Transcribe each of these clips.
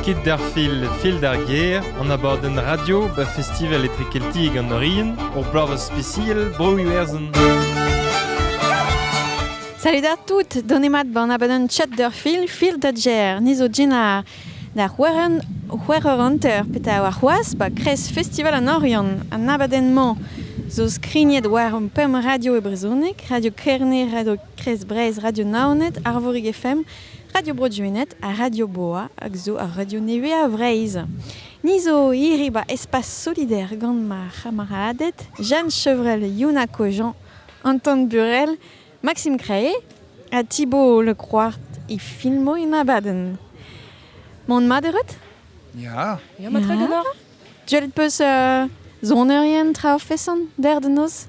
Kit d'ar fil Fil d'ar gêr, an abadenn radio ba Festival Etre Keltiek an Orien, ur bloavezh spesial Bro-Iwerzhon. Salut à toutes, donemat ban abadenn Chat d'ur fil, Fil da gêr, niz o dinar. Da c'houereur peta war c'hoaz ba kres Festival an Oriant, an abadenn-mañ zo skrignet war an pemp radio e brezhoneg, Radio Kerne, Radio Krez Breizh Radio Naoned, Arvorig FM, Radio Bro-Duened ha Radio Boa hag zo ar radio neveañ Vreizh. Ni zo hiri ba Espace Solidaire gant ma c'hamaraded Jeanne Chevrel, Yuna Kojan, Anton Burel, Maxime Creé ha Thibaut Lecroart e filmo en abadenn. Mont maderet? Ja. Ja, ma tregador. Duet peus uh, zonerien tra fesan der de nos?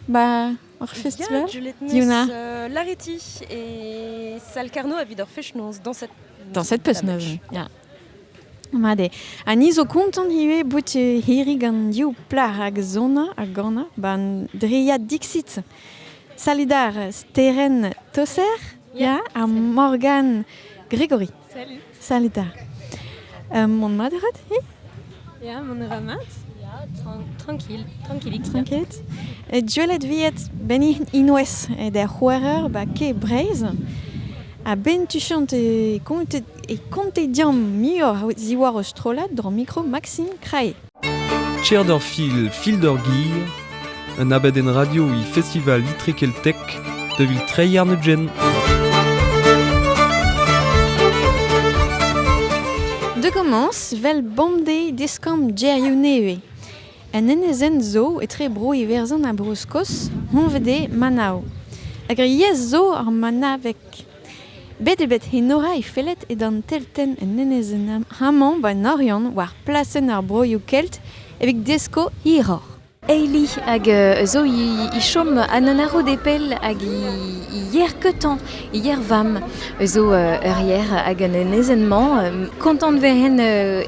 Ba Ar festival Diouna euh, Lareti et Salcarno a vidor fechnoz dans cette dans cette peusneuz ja Made. A ni zo kontant ivez bout hiri gant div plac'h hag zona a gana ban driad Dixit. Salidar Steren Tosser yeah. ha Morgan Gregory. Salut. Salut 'ta. Euh, mon mat rat hi? Ja, mon a va mat. Ja, tranquil. Tranquillik. Tranquil. E Gwelet viet ben inwez e der c'houerer ba ke Breiz. A ben tu chant e konte e konte diam muioc'h diwar o strollad dro mikro Maxime Krae. Cher-dor Fil, Fil d'ur Gir, un abadenn radio e Festival Itrekeltek da vil treiñ arnepjenn. De commence vel bamde deskamp gerioù nevez. Un enezenn zo etre bro Iwerzhon ha Bro-Skos, Honvede, Manav. Hag ar yezh zo ar manaveg. Bet eo bet Enora he fellet edan teltenn un enezenn amañ 'ba an Oriant war plasenn ar broioù kelt evit desko hiroc'h. Hailey hag zo he chom an Anarodepel hag he yer-keutañ, he yer-vamm zo ur yer hag an enezenn-mañ. Kontant 'vehen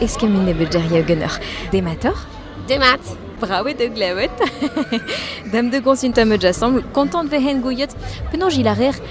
eskemmiñ nebeut geriañ ganeoc'h. Dematoc'h? Demat! Brav eo da glevet. Dame de consulte am eus asambl. Kontant 'vehen gouiet penaos il a reer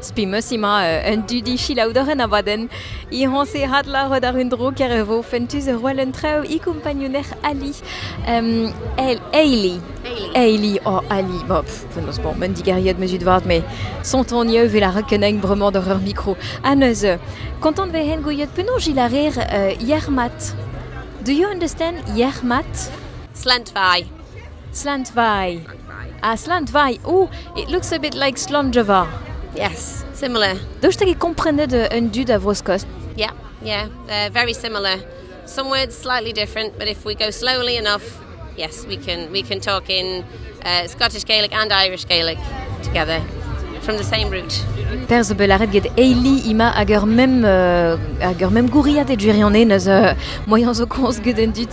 Spi 'meus emañ un dudi chilaoudorenn abadenn Iroñserat laret àr un dro ker e vo fentus roell un traoù e kumpagnunec'h Ali. Ailey. Ailey, oh Ali, bon, penaos bon, un digeriet mezut vat, met sontoni eu vel a rekenegn bremañ doc'h ur mikro. Ha neuze, kontant vel hen gouiet penaos il a rer yec'h mat. Do you understand yec'h mat? Slant fai. Slantvaai. Ha Slantvaai oh it looks a bit like Slonjava. Yes, similar. Daoust hag e komprenet euh, un dud a Vro-Skoz? Yeah, yeah, uh, very similar. Some words slightly different, but if we go slowly enough, yes, we can we can talk in uh, Scottish Gaelic and Irish Gaelic together from the same route. Per zo bet laret get eili ima hag ur mem euh, hag ur mem gouriad e duri an neus euh, moyen zo komz get an dud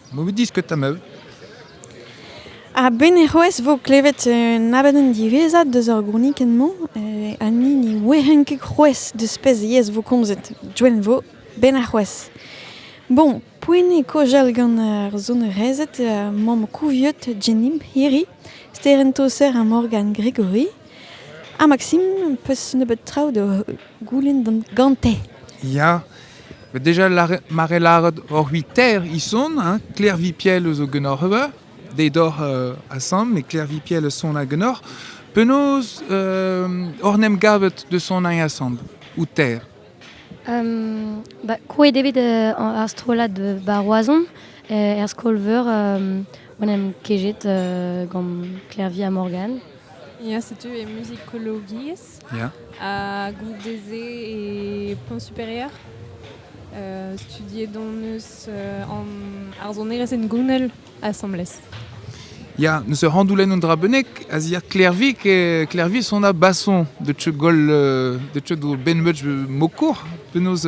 Mo bet diskuta ma out. A-benn ec'hoez vo klevet un abadenn diwezhat deus ar gournikenn-mañ. Eh, Annie ne ouien ket c'hwezh deus pezh yezh vo komzet. Joen vo, benn arc'hoazh. Bon, poent eo kojal gant ar sonerezed, mamm Kouviot, Jenimp, hiri, Sterenn Toser ha Morgan Gregory. Ha Maksim, am peus nebeut traoù da goulenn gante. Ya, deja mare lâret hor c'hwitaer ison, hein, Claire Vipiel zo ganeoc'h ober, dezhi doc'h uh, asambl, met Claire Vipiel a son ganeoc'h. Penaos hor uh, em gavet de son asambl, ou ter? Um, ba, krouet evit uh, ar strollad ba Roazhon, er skol-veur, um, on em kejet uh, gant Claire Via Morgan. Ya, setu e muzikologiezh. Ya. Ha goude-se e Pont Supérieur. Euh, studiet on eus euh, an arzonerezh hengounel asambles. Ya, neus ur randoulenn un dra bennek, a zier Klervi, e Klervi son a bason de teu gol de teu do benmeud mokour, penaos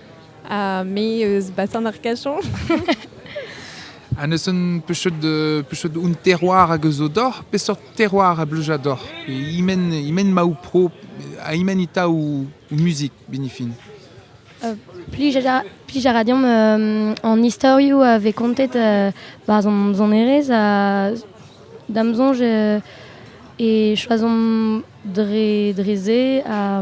ha me eus Bassin-d'Arcachon. ha ne sen pechet pechet un terroir hag eus d'or peseurt terroir a bleuja d'or imen imen ma ou pro a imen ita ou musique binifin euh, Plij a ra deomp euh, an istorioù a vez kontet euh, ba zon zonerez a dam zonj e choazomp dre dre se a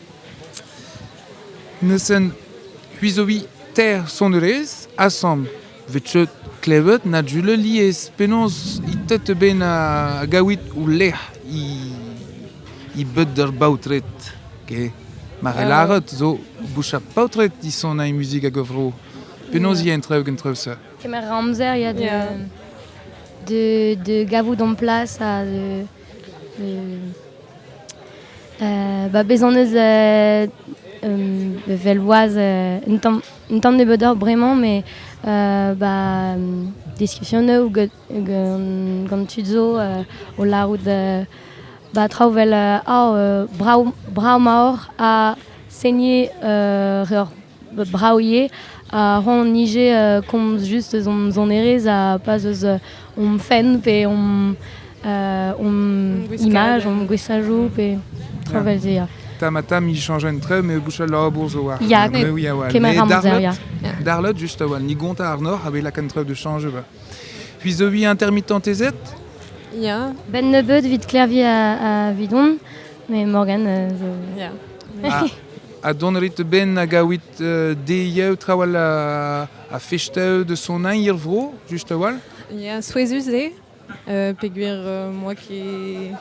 Neuzen c'hwizoviñ teir sonerezh asambl 'vit cheut klevet na jules lies penaos it-tet bet gaouit ho lec'h e beud d'ur baotred get mar eo lâret zo bouchañ paotred disonaiñ muzik hag a vro penaos eo an traoù gentrev-se. Kemer amzer ya da gavout hon plas ha Ba bez on eus evel boaz un tamm nebeudoc'h bremañ met ba diskizionoù gant tud zo o lârout ba traoù 'vel brav brav-mor ha seniñ ur Brav ivez. Ha c'hoant on ivez komz just eus hon sonerezh ha pas eus hom fenn pe hom hom imaj, hom gouestajoù pe traoù 'vel se, ya. Tamm-ha-tamm int entre met bouchal labour zo war ya, mewi a-walh. Mais darlot, darlot just a-walh, ni gontez àrnoh a-wel lakaat traoù da chañj ivez. Puis zo vi intermittentezed? Ya. 'Benn nebeud 'vid klerviñ a-vidon. Mais Morgan, euh, je... Yeah. Ah, a don rit ben a gawit euh, dezheu trawal a, a festeu de son ein ir vro, just a-walh? Yeah, souezhus eo, euh, peogwir euh, moi qui...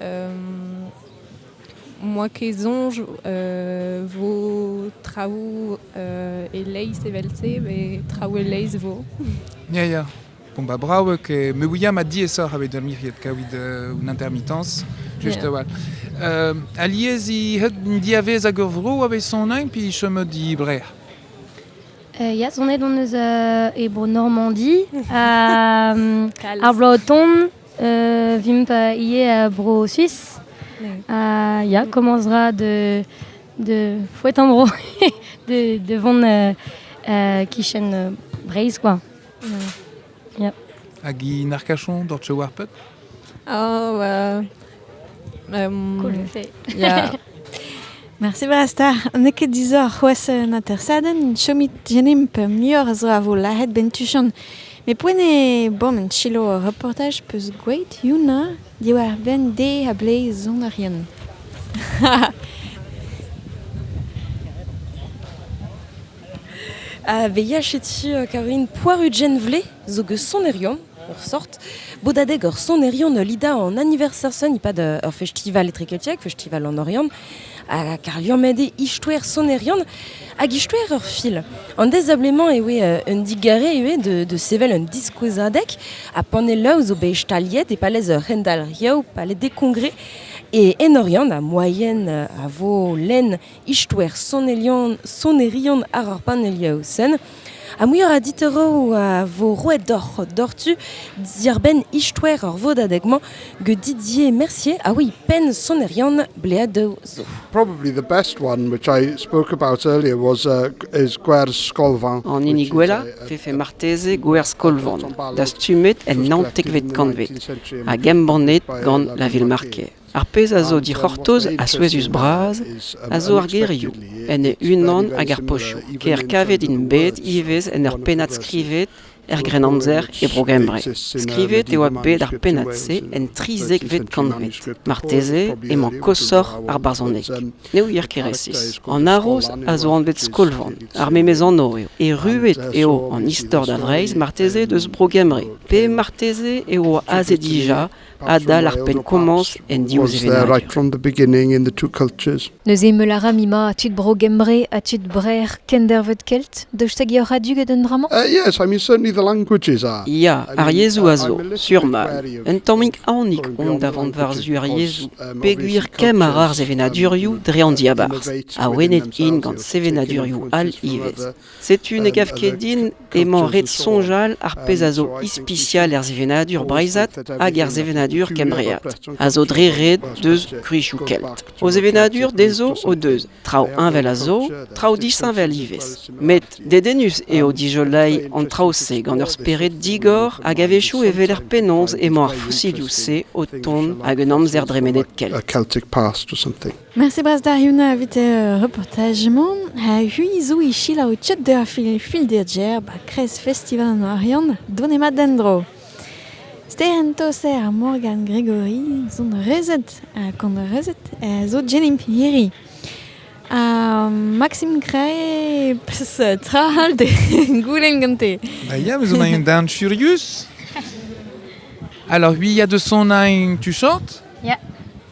Euh, moi qui zonge euh, vos travaux euh, e leizh evel-se, mais travaux e leizh vo. Yeah, yeah. Bon, bah bravo, que me ouia ma diessoc'h evit ar miriet kavit euh, un intermittence, just yeah. awal. Uh, alies i het diavez hag ur vro a vez sonain pi chomot di bre. Uh, yes, on est on eus uh, e bro Normandie, uh, ar bro ton, uh, vimp uh, ie uh, bro Suisse. Uh, yeah, commencera de, de fouet en bro de, de von uh, uh, kichen uh, Breizh, quoi. Ya. Hag i narkachon doc'h tcheu ar pep? Oh, bah... Um, cool fait. Ya. Mersi brastar. N'eo ket disoc'h c'hoazh un atersadenn. Chomit genimp muioc'h zo a vo lahet bentuchan. Me poen eo bom un chilo ur reportaj peus gweet yuna diwar benn de a ble zonarien. A veilhachet sur, Caroline, Poirudjenvle zo eus sonerion, ur sort. Bodadeg ur sonerion Lida an anniversaire sonn e-pad uh, ur festival etrekeltiek, festival an Oriant. Hag ar liammet eo istoer sonerion hag istoer ur fil. An dezablement e oe uh, un digare e oe de, de sevel un diskouezadeg ha panelloù zo bet staliet e palez ur rendalriou, palez des congrès. E en Oriant, ha moyen uh, a vo lenn Istor sonerion, sonerion àr ar panelioù-sen. Ha muioc'h a ditoroù a vo roet deoc'h doc'htu diàr-benn istoer ar vodadeg-mañ get Didier Mercier a oui penn sonerion Bleadoù zo. Probably the best one, which I spoke about earlier, was uh, is Gwerz Skolvan. An hini gwellañ vefe marteze Gwerz Skolvan, dastumet en naontekvet kantved hag embannet gant La Ville-Marquée. Ar pezh a zo dic'hortoz ha souezhus-bras a zo ar gerioù, en e-unan hag ar pochoù, ker kavet int bet ivez en ur pennad skrivet er Grennamzer e Bro-Gembre. Skrivet e oa bet ar pennad-se en trizekvet kantved. Marteze emañ koshoc'h ar barzhoneg. Ne ouier ket resis. An haroz a zo anvet Skolvan. Ar memes anv eo. Erruet eo an istor da Vreizh marteze deus Bro-Gembre, pe marteze eo aze dija adal ar penn-komañs en div sevenadur. Neuze mell a ra Mima ha tud Bro-Gembre ha tud Brer kendervet kelt daoust hag eo radio get un dra-mañ? Uh, yes, I mean certainly the languages are. Ya, ar yezhoù a zo, surman. Un tammig aonik on davant war-zu ar yezhoù, pegwir kemm ar ar sevenadurioù dre an diabarzh. Awenet int gant sevenadurioù all ivez. Setu ne gav ket din emañ ret soñjal ar pezh a zo ispisial er sevenadur breizhat hag er sevenadur kembreat, a zo dre ret deus gwichoù kelt. O sevenadur dezho o deus traoù heñvel a zo, traoù disheñvel ivez. Met dedennus eo dijoleiñ an traoù-se gant ur spered digor hag a-wechoù e weler penaos emañ ar fosilhoù-se o tont ag un amzer dremenet kelt. Mersi bras da Yuna evit e reportaj-mañ. Ha hui zo e silaou tchet da fil filderjer ba Kres Festival an Oriant donemat d'en-dro. Ster an toser ar Morgan Gregory zon rezet ha kont rezet zo Jenny Piri. Ha Maxime Cray, pes tra all de goulen gante. Ba ya, vous en avez d'un furious Alors oui, il y a de son tu chantes Ja.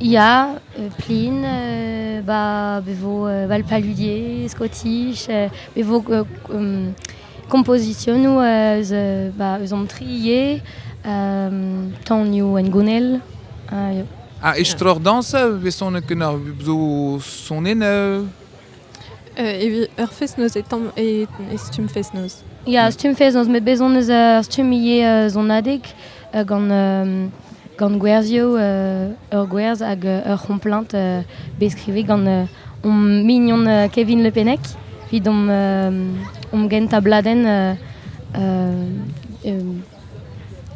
Ya, plin, bah be vo val paludier, skotich, be vo kompozisionoù eus bah eus an tri ivez, tanioù hengounel, ah estroc'h dañs, besonet ken zo sonennoù. Evit ur fest-noz e tamm e, e stumm fest-noz. Ya, stumm fest-noz met bez' hon eus ur stumm ivez uh, sonadeg uh, gant um, gant gwerzioù, uh, ur gwerz hag uh, ur c'homplaint uh, bet skrivet gant uh, hom mignon uh, Kevin Le Pennec evit hom, uh, hom gentañ bladenn uh, uh, um,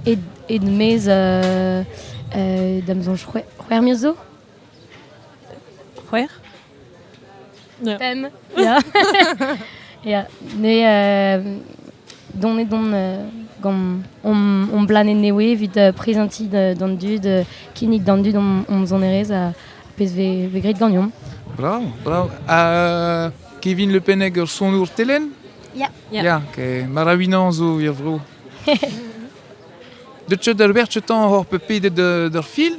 ed, ed-maez uh, uh, da'm soñj c'hwer c'hwerc'h zo. C'hwec'h Pemp Ya Ya ne donedomp gant hon blanne newe evit prezentiñ d'an dud, kinnig d'an dud hom sonerezh ar pezh vez graet ganeomp. Bravo bravo ha Kevin Le Penneg ur sonour telenn? Ya Ya Maravinañ zo er vro. Deut 'ch d'ur werz 'tañ oc'h pedet d'ur fil?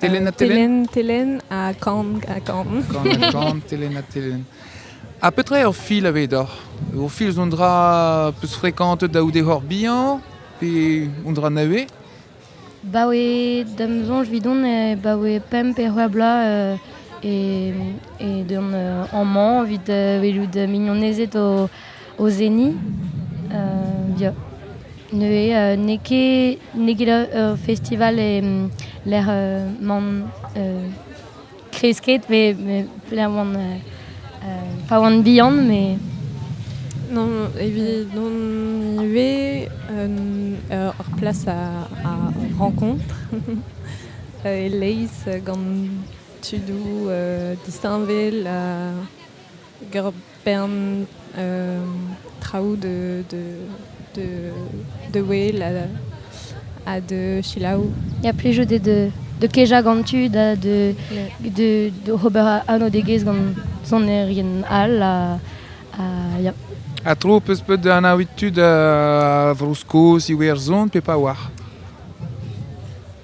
Telenn ha telenn. Telenn ha kan ha kan. Kan ha kan, telenn ha telenn. Ha petra eo ur fil avedoc'h Ur fil zo un dra peus frekantet da oude hor bihan pe un dra nevez Baoe da'm soñj vidon e baoe pemp e c'hwec'h bloaz euh, e, e deus an amañ evit uh, welout mignonezed o o seniñ ya neuze n'eo ket n'eo ket ur festival lec'h man kresket met pelec'h oan pa oan bihan mais non evit non ivez ur plas a rencontre e-leizh gant tudoù disheñvel bern traoù de, de, de, wel ha de selaou. Il y a plus jeu de, de keja gant tu da de, de, de ober anv degez gant sonerien all a, a, ya. Ha tro peus bet da anaouit tud a Vro-Skos, Iwerzhon, pe pa oar?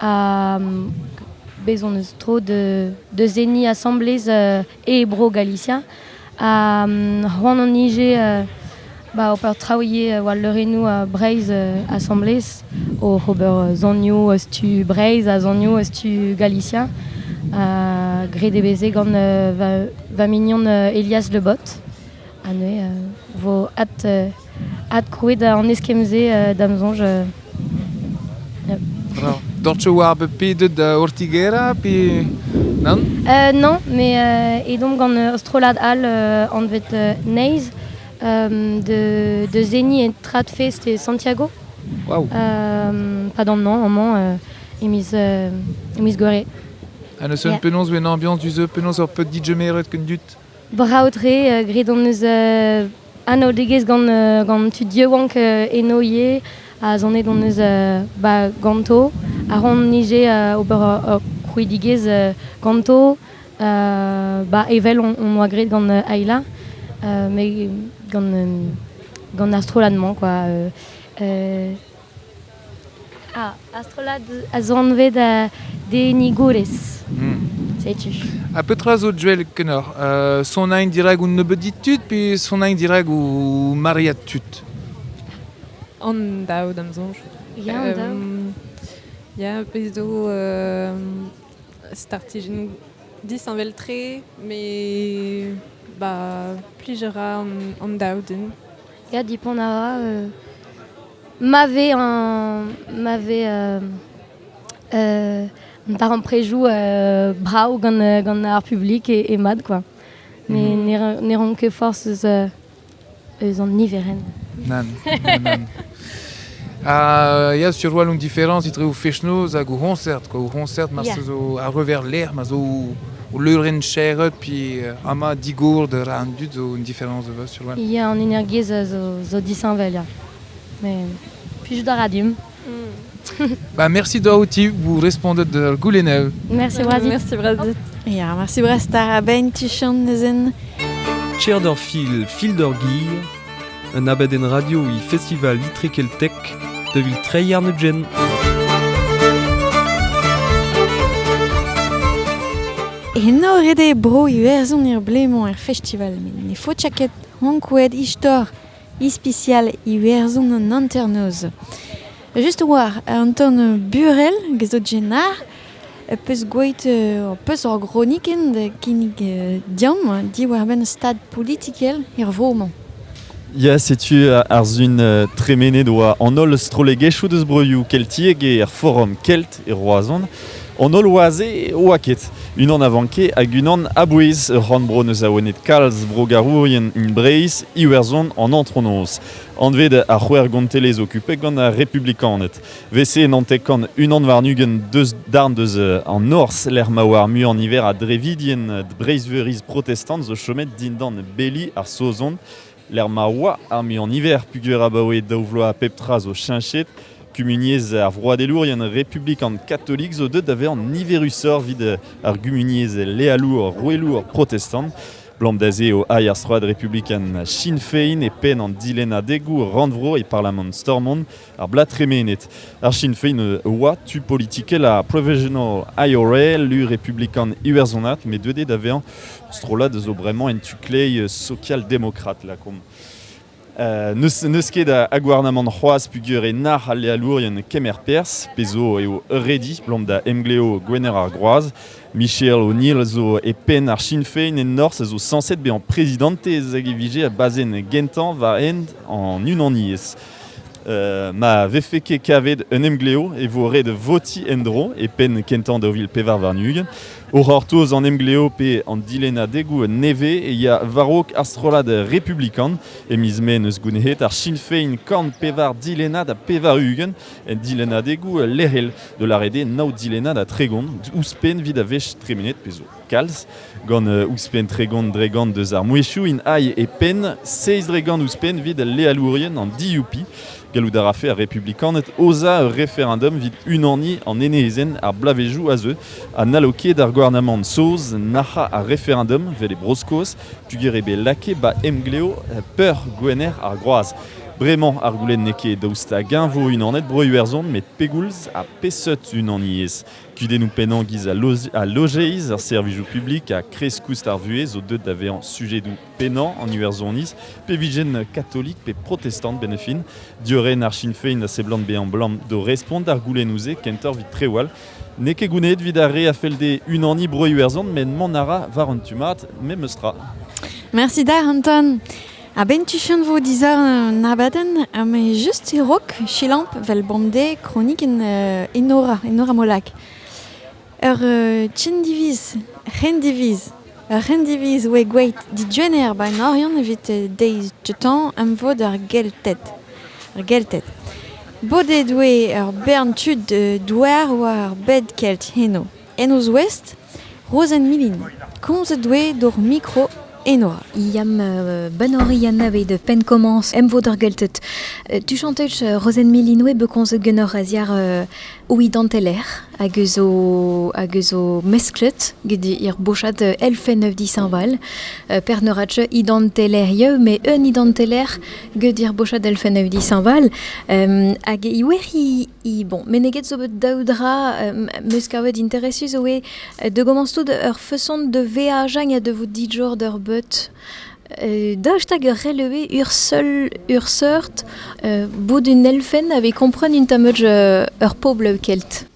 ha bez' hon eus tro da seniñ asambles e Bro Galicia. Ha c'hoant hon ije ba ober traoù ivez war leurennoù Breizh asambles, oc'h ober sonioù eus tu Breizh ha sonioù eus tu Galicia. graet eo bet se gant va mignon Elias Le Bot, ha neuze e vo ad adkrouet an eskemm-se da'm soñj. Torch war be pedet Ortigera pe nann? non, me edomp gant ur strollad all anvet Naze de, de Zeni et Tradfest e Santiago. Wow. padant non, amañ e miz, e miz Gouere. Ha n'eus un penaos en ambiañs du-se, penaos ur petit DJ meret ken dut? Brav-tre, graet hon eus anaoudegezh gant, gant tud yaouank eno ivez, ha sonet hon eus ba ganto. A ran ije ober ur krouidigezh ganto ba evel hon boa graet gant Ayla, met gant gant ar strollad-mañ quoi. Ah, ar strollad a zo anvet Denigourez. Hmm. Setu. Ha petra zo, Joel, kenoc'h uh, Sonain dirag ou nebeudit tud pe sonain dirag ou mariad tud An daou d'am soñj. Ya, an daou. Ya, bez zo uh, startijenn disheñvel-tre, me ba, plijer a an, an daou din. Ya, dipont a ra. euh, ma vez un, ma vez euh, euh, un darempredoù euh, brav gant, euh, gant ar publik et, et mat, quoi. Ne, Mhm. ne, ran- ne ran ket forzh eus, euh, eus an niverenn. Nan, nan, nan. Ha ya, sur walon différence etre o fech-noz hag o c'hoñsert. Quoi. O c'hoñsert, ma yeah. zo a-rever lec'h, ma zo o leurenn chaeret, puis euh, ama digourd ra an dud zo un différence de sur walon. Ya, an energiezh zo, zo disheñvel, ya. Mais plijout a ra dimp. Mm. bah, merci doa outi vous répondez de goulennev. Merci Brazit. Merci Brazit. Ya, merci Brest ar abein tu chan nezen. Cher d'or fil, fil d'orguilh, Un abadenn radio e Festival Itre Keltek da vil treiñ arnepjenn. Eno ret eo bro Iwerzhon er blemañ er festival met ne faot ket ankouaet istor ispisial Iwerzhon an hanternoz. Just war un ton burel, gant Jenar, peus gwelet ho peus ur gronikenn da kinnig deomp diwar-benn stad politikel er vro-mañ. Ya, setu ar sizhun tremenet oa an holl strollegezhioù deus broioù keltiek er forom kelt e Roazhon. An holl oa-se oa ket. Unan a vanke hag unan a-bouez. Ur c'horn-bro neus awenet kalz brogarourien hini Breizh, Iwerzhon an antronoz, anvet ar c'hwec'h gontelezh okupet gant ar republikaned. VC Nantek kant unan warn-ugent deus darn deus an Norzh, lec'h ma oa ar muiañ niver a drevidien Breizhveuriz protestant zo chomet dindan beli ar Saozon, lec'h ma oa ar muiañ niver pugur abaoe daou vloaz pep tra zo cheñchet. Kumuniezh ar vroadelourien republikan katolik zo deuet da vezañ niverusoc'h evit ar gumuniezh lealour roueelour protestant. Blom da se eo ail ar stroad republikan Sinn Féin e penn an dilennadegoù rannvro e parlamant Stormont. ar blad tremenet. Ar Sinn Féin oa tu politikel ar Provisional IRA, lu republikan iwerzonat, met deuet eo da vezañ strollad zo bremañ en tu-kleiz sokial-demokrat lakaomp. Uh, n'eus ket a, gouarnamant c'hoazh pugur e nac'h al lealourien kemer perzh, pezo eo ready blom da emgleo Gwener ar Groaz. Michel O'Neill zo e penn ar Sinn Féin en Norzh a zo sañset bezañ prezidantez hag e vije a bazenn gentañ war hent an unaniezh. ma vefe ket kavet un emglev e vo ret votiñ en-dro e penn kentañ daou vil pevar warn-ugent. O c'hortoz an emglev pe an dilennadegoù nevez e ya war-raok ar strollad republikan. E miz Mae n'eus gounezet ar Sinn Féin korn pevar dilennad ha pevar-ugent en dilennadegoù lec'hel, da lâret eo nav dilennad ha tregont, ouzhpenn evit a wech tremenet pezh zo. Kalz gant ouzhpenn tregont dregont deus ar mouezhioù int ailh e penn, seizh dregont ouzhpenn evit al lealourien an DUP. Gallout a rafe ar republikaned aozañ ur referendum evit unaniñ an enezenn ar bloavezhioù a zeu ha n'hallo ket ar gouarnamant saoz nac'hañ ar referendum vel e Bro-Skos peogwir eo bet lakaet 'ba emglev peurgwener ar groaz. Bremañ ar goulenn n'eo ket daoust hag-eñ vo unanet Bro-Iwerzhon met pegoulz ha peseurt unaniezh Kudennoù pennañ-giz ha lojeiz ar servijoù publik ha kreiz-koust ar vuhez zo deuet da vezañ sujedoù pennañ an Iwerzhoniz, pe vijent katolik pe protestant benefin. Diorren ar Sinn Féin a seblant bezañ 'blam d'o respont d'ar goulennoù-se kentoc'h evit trewal. N'eo ket gounezet evit ar re a fell dezhe unaniñ Bro-Iwerzhon, met mont a ra war un tu mat, memes tra. Merci da Anton. A-benn tuchant 'vo dizaor un abadenn ha me just e-raok selaomp 'vel bemdez kronikenn Enora, Enora Molac. Ur c'hendiviz, c'hendiviz, ur c'hendiviz oe gweet digenner 'ba an Oriant evit deiz teutan am vo d'ar Gelted. Ar Gelted. Bodet oe ur bern tud douar war ar bed kelt heno. En o zouest, Rozenn-Milin, komzet doe d'hor mikro Enora. Ya, ban Orian aveit penn komañs emvod ar Gelted. Tu chantech Rozenn-Milin oe bet komzet genoc'h a-ziar o idanteler hag eus o hag eus o mesklet get ar bochad elfenn euv dishañval. Per ne ra teu idantelerieu met un idanteler get ar bochad elfenn euv dishañval. hag e oer Bon, meneget zo bet daou dra euh, meus kavet interesus zo eo euh, da gomañs tout ur feson de veajañ ha de vo dijour d'ur beut. Euh, daoust hag ur relevé ur seul ur seurt euh, bout un elfenn aveit kompren un tameud euh, ur pobl kelt?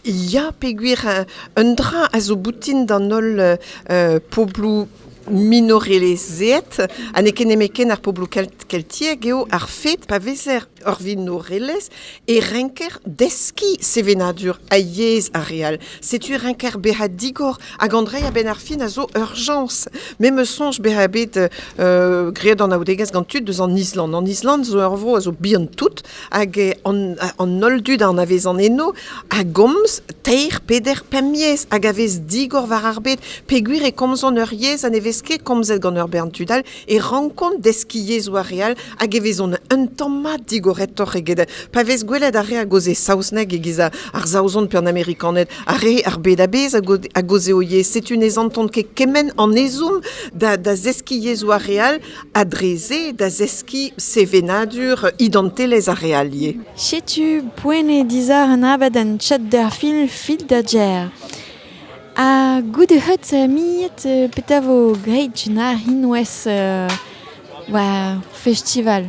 Ya, pegwir euh, un dra a zo boutin d'an holl euh, euh, pobloù minorelezeet ha n'eo ket nemetken ar pobloù kelt keltiek eo ar fet pa vezer ur vinorelezh e renker deskiñ sevenadur ha yezh ar re all. Setu renker bezañ digor hag an dreiñ a-benn ar fin a zo urjañs. Me meus soñj bezañ bet uh, graet anaoudegezh gant tud deus an Island. An Island zo ur vro a zo bihan tout hag an, an holl dud a anavezan eno a gomz teir, peder, pemp yezh hag a vez digor war ar bed peogwir e komzont ur yezh ha ne vez ket komzet gant ur bern tud all. e rankont deskiñ yezhoù ar re all hag e vezont un tamm mat digoretoc'h eget pa vez gwelet ar re a-gaoz e saozneg e-giz ar saozon pe an amerikaned ar re ar bed a-bezh a-gaoz eo ivez setu ne santont ket kement an ezhomm da da zeskiñ yezhoù ar re all ha dre-se da zeskiñ sevenadur idantelezh ar re all ivez. Setu poent eo dizar un abadenn Chat d'ar fin, Fil da Ger. Ha goude heut miret petra vo graet Gina ar c'hinwez war festival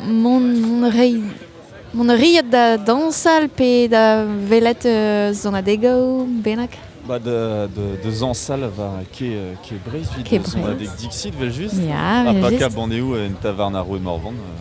mont mont a ray mont a riot da dañsal pe da welet sonadegoù bennak Ba da da zañsal war Ke Ke Breizh 'vit sonadeg Dixit 'vel-just. Ya, ha pa kab anezho en tavarn ar Roue Morvan.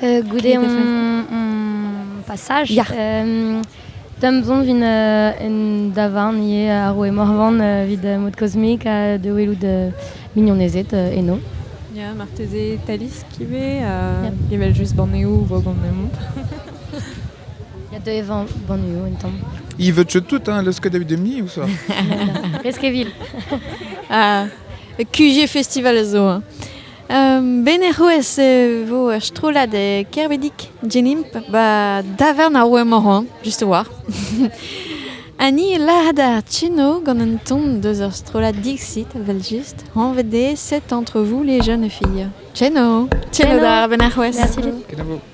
goude hon passage Da'm zont vin un davarn ivez ar roue Morvan evit mod kosmik ha da welout mignonezed eno. Ya, marteze Talisk ivez, evel-just banneoù vo banneoù. Ya, deuet evañ banneoù un tamm. Ils veulent tout, hein, le Skadabidemni ou ça Reskeville. Ah, QG Festival zo. Hein. Ben er c'houez e vo ur strollad e Kerbedic Genimp ba davarn ar Wemoran, just war. ha ni lâret ar Chino gant un ton deus ur strollad Dixit, vel just, anvet eo set entre vous les jeunes filles. Chino! Chino da ben ar c'houez! Merci dit.